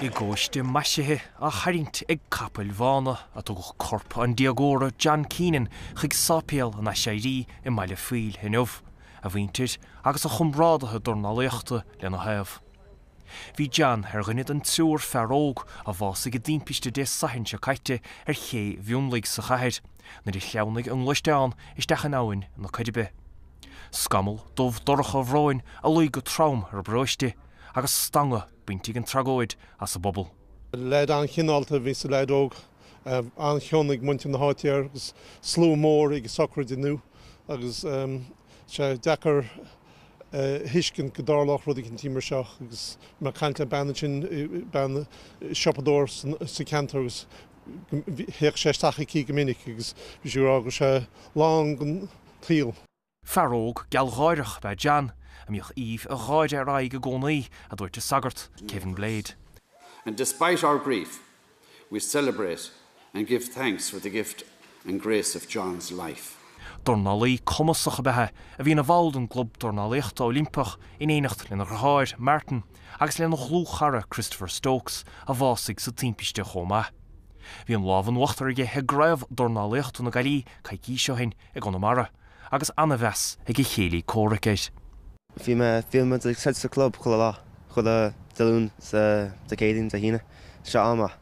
I gcóiste maisithe á tharraingt ag capaill bhána a tugadh corp an déagóra John Keenan chuig Sáipéal an Aiséirí i mBaile Phoill inniu, a mhuintir agus a chomrádaithe dornálaíochta lena thaobh. Bhí John ar dhuine den triúr fear óg a bhásaigh i dtimpiste Dé Sathairn seo caite ar Ché Mhionlaigh sa chathair. nuair a shleamhnaigh a ngluaisteán isteach in Abhainn na Coiribe. Scamall dubh dorcha bróin a luigh go trom ar an bparóiste agus stangadh bainte ag an tragóid as an bpobal. Leaid an-chineálta a bhí sa leaid óg, an-chion ag muintir na háite air agus slua mór ag a shochraid inniu. Agus tá sé deacair a thuiscint go dtarlódh rud eicínt mar seo agus mé ag caint le bean ansin, bean siopadóir sa ceantar, agus Théadh sé isteach aici go minic agus bhí sí ag rá go raibh sé lán den tsaol. Fear óg gealgháireach ab ea John, a mbíodh aoibh an gháire ar a aghaidh i gcónaí, a dúirt an sagart, Kevin Blade. And despite our grief, we celebrate and give thanks for the gift and grace of John's life. Dornálaí cumasach ab ea é, a bhí ina bhall den Chlub Dornálaíochta Oilimpeach in éineacht lena dheartháir, Martin, agus lena dhlúthchara Christopher Stokes, a bhásaigh sa timpiste chomh maith. Bhí an lámh in uachtar aige i gCraobh Dornálaíochta na Gaillimhe coicís ó shin i gConamara, agus an-mheas ag a chéilí comhraic air. Bhí mé, bhíonn muid, ag troid sa chlub chuile lá, chuile Dé Luain 's Dé Céadaoin, Dé hAoine, seo amach.